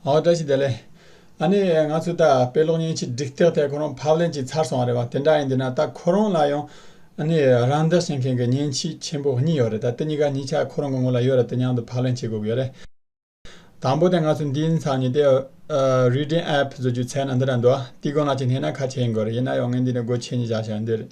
ཨོ་བཀྲ་ཤིས་བདེ་ལེགས། ཨ་ནེ། ང་ཚོའི་ད་དཔེ་ཀློག་སྙན་ཆས་སྒྲིག་སྟེགས་ཐད་ཁོ་རང་ཕབ་ལེན་གྱིས་ཚར་སོང་བ་རེད་བ་དེ་འདྲ་ཡིན་དུས་ན་ད་ཁོ་རང་ལ་ཡང་ཨ་ནེ། རང་འདྲ་བྱེད་མཁན་གྱི་སྙན་ཆས་ཆེན་པོ་གཉིས་ཡོད་རེད་ད་དེ་གཉིས་ཀ་གཉིས་ཆ་ཁོ་རང་གི་ངོ་ལ་ཡོད་རེད་དེ་མཉམ་དུ་ཕབ་ལེན་བྱེད་དགོས་ཀྱི་ཡོད་རེད། དང་པོ་དེ་ང་ཚོས་འདི་ཚང་ཉིད་དེ། Reading App། བཟོ་རྒྱུའི་ཚད་ན་འདི་འདྲ་འདུག་ཨ། འདི་སྒོ་ནང་གཅིག་བསྣན་ན་ཁ་ཆེ་ཡིན་དགོས་རེད་ཡིན་ན་ཡང་ངས་འདི་ནས་སྒོ་ཆེ་གཉིས་བཞག་ཞེས་ཡང་འདོད་རེད།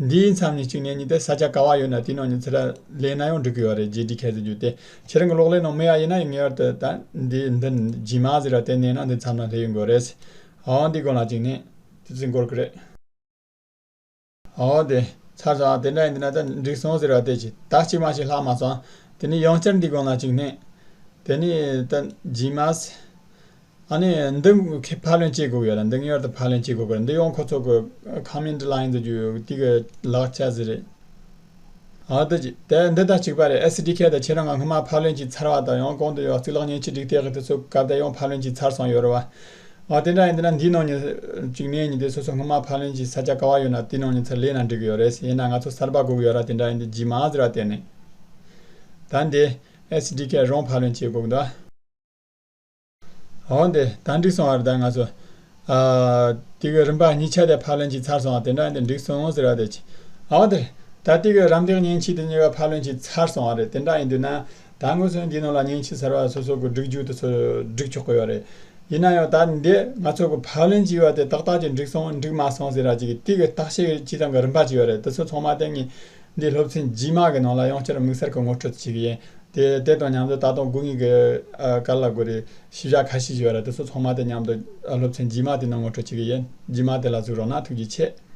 འདིའི་མཚམས་ནས་གཅིག་ནས་གཉིས་ཏེ་ས་ཆ་ག་བ་ཡོད་ན་དེའི་ནང་ཉི་ཚེ་ར་ལས་ན་ཡང་འགྲིག་གི་ཡོད་རེད་རྗེས་འདྲི་ཁས་ཙི་རྒྱུ་དེ་ཁྱེད་རང་གི་གློག་ཀླད་ནང་མེད་ཡ་ཡིན་ན་ངེས་བར་དུ་ད་འདི་འདི་ཇི་མ་ཟེར་བ་དེ་མནན་ན་འདི་མཚམས་ན་སླེབས་ཡོང་དགོས་རེད། ཨོ་འདི་དགོན་ལགས་གཅིག་ནས་ཙི་ཙི་འགོར་གི་རེད། ཨོ་དེ་ཚར་སོང་ཨ་དེ་འདྲ་ཡིན་དུས་ན་ད་འགྲིག་སོང་ཟེར་བ་དེ་ཇི་ད་གཅིག་མ་ཞིག་ལྷག་མ་སོང་དེ་ནས་ཡང་བསྐྱར་འདི་དགོན་ལགས་གཅིག་ནས་དེ་ནས་ད་ཇི་མ་ཟེར་ཨ་ནི། འདི་ཁྱེད་ཕར་ལེན་བྱེད་དགོས་ཡོད་ལ་འདི་ངེས་བར་དུ་ཕར་ལེན་བྱེད་དགོས་པ་རེད་འདི་ཡོང་ཁོ་ཚོ་གི་ཁང་མིང་འདི་ལ་ཡིན་དུ་རྒྱུ་ཡོད་དེ་གི་ལག་ཆ་ཟི་རེད། ཨ་འདི་ཅི་དེ་འདི་ད་གཅིག་པ་རེད་ཨེ་སི་ཏི་ཁྱེད་དང་ཁྱེད་རང་ང་སྔོན་མ་ཕར་ལེན་བྱས་ཚར་བ་དང་ཡང་གོང་དུ་ཡོད་གཙུག་ལག་བརྙན་ཆེ་སྒྲིག་སྟེགས་གི་དེ་ཚོ་ག་དེ་ཡང་ཕར་ལེན་བྱས་ཚར་སོང་ཡོད་རེད་བ། ཨ་དེ་འདྲ་ཡིན་དུས་ན་འདིའི་ནང་ཉིན་གཅིག་གནས་ཉིན་དེ་སོ་སོ་སྔོན་མ་ཕར་ལེན་བྱས་ས་ཆ་ག་བ་ཡོད་ན་དེའི་ནང་ཉིན་ཚར་ལེན་ན་འགྲིག་གི་ཡོད་རེད་བྱས་ན་ང་ཚོ་གསར་པ་གོ་གི་ཡོད་ར་དེ་འདྲ་ཡིན་དུས་རྗེས་མ་ཟེར་བ་དེ་ནི། ད་འདི། ཨེ་སི་ཏི་ཁྱེད་རང་ཕར་ལེན་བྱེད་དགོས་གི་འདུག་ཨ། འོང་སྟེ་གང་འགྲིག་སོང་བར་ད་ང་ཚོ། ཏི་གོས་རིམ་པ་གཉིས་ཆ་དེ་ཕར་ལེན་ཅིག་ཚར་སོང་བ་དེ་འདྲ་འདི་འགྲིག་སོང་ཟེར་བ་དེ། འོང་སྟེ། ད་ཏི་གོས་རམ་འདེགས་སྙིང་ཕྱི་དེ་གཉིས་ཀ་ཕར་ལོན་ཅིག་ཚར་སོང་བ་རེད་དེ་འདྲ་ཡིན་དུས་ན། ད་དངོས་སུ་འདིའི་ནང་ལ་སྙིང་ཕྱི་ཟེར་བ་སོ་སོ་གི་སྒྲིག་འཇུག་དེ་ཚོ་སྒྲིག་ཆོག་གི་ཡོད་རེད། ཡིན་ན་ཡང་ད་འདི་ང་ཚོ་གི་ཕར་ལོན་ཅིག་བ་དེ་ཏག་ཏག་ཅིག་འགྲིག་སོང་འགྲིག་མ་སོང་ཟེར་ར་ཅིག་གི་ཏི་གོས་བརྟག་དཔྱད་ཅི་ཙམ་གི་རིམ་པ་ཅིག་ཡོད་རེད་དེ་ཚོ་ཚང་མ་དེ་གཉིས། འདིའི་སློབ་ཚན་རྗེས་མ་གི་ནང་ལ་ཡང་བསྐྱར་དམིགས་བསལ་གྱི་ངོ་སྤྲོད་ཅིག་གི་ཡིན། དེ་དེ་དང་མཉམ་དུ་ད་དུང་དགུན་དབྱིངས་ཀྱི་ཀར་ལ་གོ་རེ། ཞིབ་བཞག་ཁ་ཤས་ཞིག་ཡོད་ར་དེ་ཚོ་ཚང་མ་དེ་མཉམ་དུ་སློབ་ཚན་རྗེས་མ་དེ་ནང་ངོ་སྤྲོད་ཅིག་གི་ཡིན། རྗེས་མ་དེ་ལ་གཟིགས་རོགས་གནང་ཐུགས་རྗེ་ཆེ།